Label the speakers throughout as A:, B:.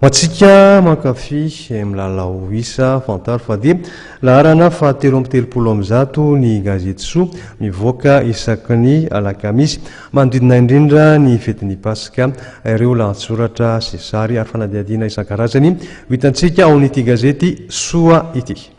A: Ho antsika mankafy milalao isa, fantaro fa dia laharana fahatelo amby telopolo amby zato ny gazety soa mivoaka isaky ny alakamisy. Manodidina indrindra ny fetin'ny Paska ireo lahatsoratra sy sary ary fanadihadiana isan-karazany ho hitantsika ao amin'ity gazety soa ity.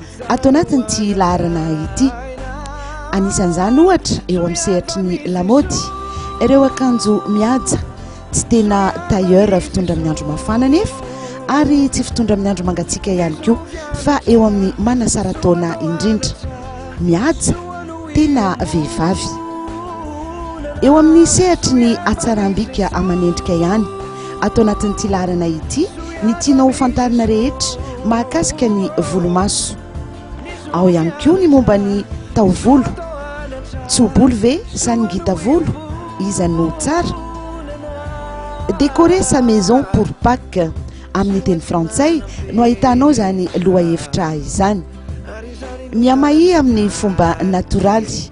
B: ato anatin'ity laharana ity. Anisan'izany ohatra eo amin'ny sehatry ny lamaody, ireo akanjo mihaja tsy tena tailleur fitondra amin'ny andro mafana anefa ary tsy fitondra amin'ny andro mangatsiaka ihany koa fa eo amin'ny manasara-taona indrindra. Mihaja tena vehivavy. Eo amin'ny sehatry ny hatsaram-bika aman'endrika ihany. Ato anatin'ity laharana ity ny tianao ho fantarina rehetra mahakasika ny volomaso. Ao ihany koa ny momba ny taovolo. Tso-bolo ve sa ny ngita-volo? Iza no tsara? Décorer sa maison pour Pâques amin'ny teny frantsay no ahitanao izany lohahevitra izany. Mihamahia amin'ny fomba natoraly.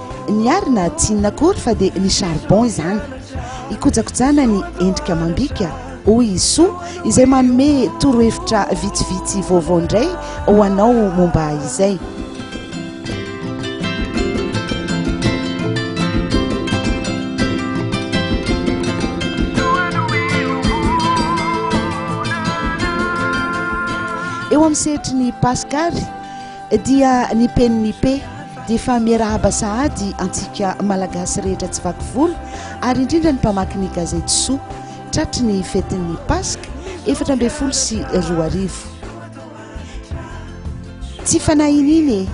B: Ny ary na tsy inona akory fa dia ny charbon izany. Ikojakojana ny endrika amam-bika, hoy i Soa izay manome torohevitra vitsivitsy vaovao indray ho anao momba izay. Eo amin'ny sehatry ny Paska ary. Dia ny PNIP dia efa miarahaba sahady antsika Malagasy rehetra tsy vaky volo ary indrindra ny mpamaky ny gazety Soa tratry ny fetin'ny Paska efatra ambin'ny folo sy roa arivo. Tsy fanahy iniana e!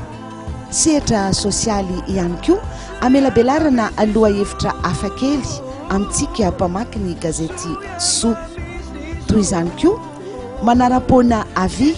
B: Sehatra sosialy ihany koa amelabelarana lohahevitra hafakely amintsika mpamaky ny gazety Soa. Toy izany koa, manaram-poana avis.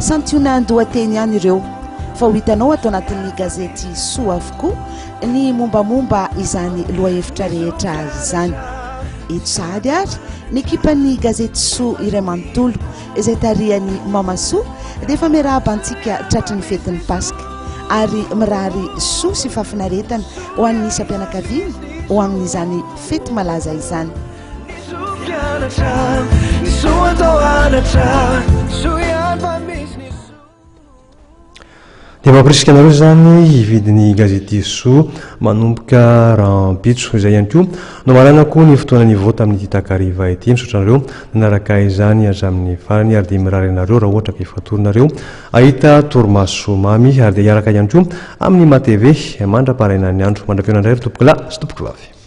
B: Santionan-dohateny ihany ireo fa ho hitanao ato anatin'ny gazety soa avokoa ny mombamomba izany lohahevitra rehetra izany. Eto sahady ary ny ekipan'ny gazety soa iray manontolo izay tarihan'i Mama Soa dia efa miarahaba antsika tratry ny fetin'ny Paska ary mirary soa sy fahafinaretana ho an'ny isam-pianakaviana ho amin'izany fety malaza izany.
A: Dia mampirisika anareo izany hividy ny gazete Soa manomboka rahampitso izay ihany koa no marana koa ny fotoana nivoa tamin'ity takariva ity misaotra anareo nanaraka izany hatramin'ny farany ary dia mirary anareo raha ohatra ka efa torinareo ahita torimaso mamy ary dia hiaraka ihany koa amin'ny matv mandra-paraina ny andro mandra-piona indray ry tompokolahy sy tompokolavy